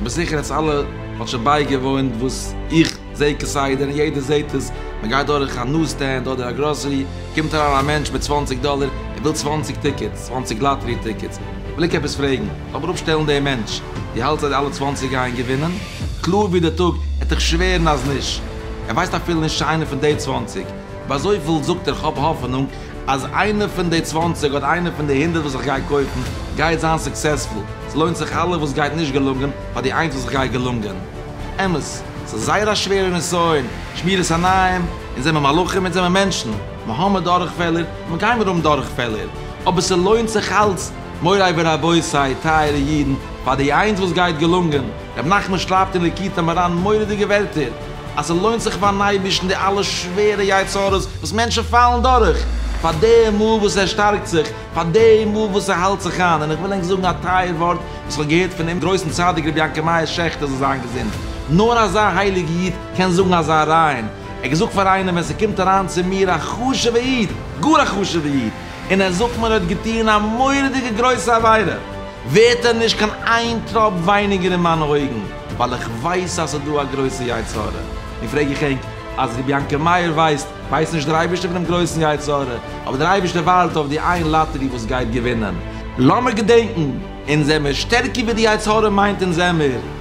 כ'בין זיכער אז אלע האט שוין בייגעוואוינט וואס איך זע כסדר און יעדער זעט עס, מען גייט דורך א נוז סטענד אדער א גראסערי, קומט אריין א מענטש מיט צוואנציג דאלער, ער וויל צוואנציג טיקעטס, צוואנציג לאטערי טיקעטס, וויל איך עפעס פרעגן, לאמיר אראפשטעלן דעם מענטש, דו האלטסט אז די אלע צוואנציג גייען געווינען? קלאר ווי דער טאג, ער וועט דיך שווערן אז נישט, ער ווייסט אפילו נישט צו איינער פון די צוואנציג, אבער אזויפיל זאגט ער כ'האב האפענונג אז איינע פון די צוואַנציק אדער איינע פון די הונדערט וואס איך גיי קויפן גייט זיין סוקסעספול, ס'לוינט זיך אלע וואס גייט נישט געלונגען פאר די איינס וואס איך גיי געלונגען. אמת, ס'איז זייער א שווערע נסיון, שמירת עיניים, אונז זעמער מלאכים, אונז זעמער מענטשן, מ'האמער דורכפעלער, און מ'גיימער האבן דורכפעלער, אבער ס'לוינט זיך אלץ, מוריי ורבותיי, טייערע אידן, פאר די איינס וואס גייט געלונגען. רבי נחמן שרייבט אין ליקוטי מוהרא ן מורא'דיגע ווערטער, אז ס'לוינט זיך פארן אייבערשטן די אלע שווערע יצה ר'ס וואס מענטשן פאלן דורך, פאר די מאל וואס ער שטארקט זיך, פאר די מאל וואס ער האלט זיך איין, און איך וויל ענק זאגן א טייער ווארט וואס איך האב געהערט פונעם גרויסן צדיק רבי יעקב מאיר שעכטער זאל זיין געזונט, נאר אזא הייליגע איד קען זאגן אזא רייען, ער האט געזאגט פאר איינעם ווען ס'קומט אריין צו מיר א חשוב'ע איד, גאר א חשוב'ע איד, און ער זאגט מיר ער האט געטון א מורא'דיגע גרויסע עבירה. ווערט ער נישט קיין איין טראפ ווייניגער אין מיינע אויגן, ווייל איך ווייס אז ס'איז דא א גרויסע יצה ר, און פרעג איך ענק, אז ר' יענקל מאיר ווייסט, ווייסט נישט דער אייבערשטער פונעם גרויסן יצה ר, אבער דער אייבערשטער ווארט אויף די איין לאטערי וואס גייט געווינען. לאמיר געדענקן, אונז זעמיר שטערקער ווי די יצה ר מיינט אונז זעמיר.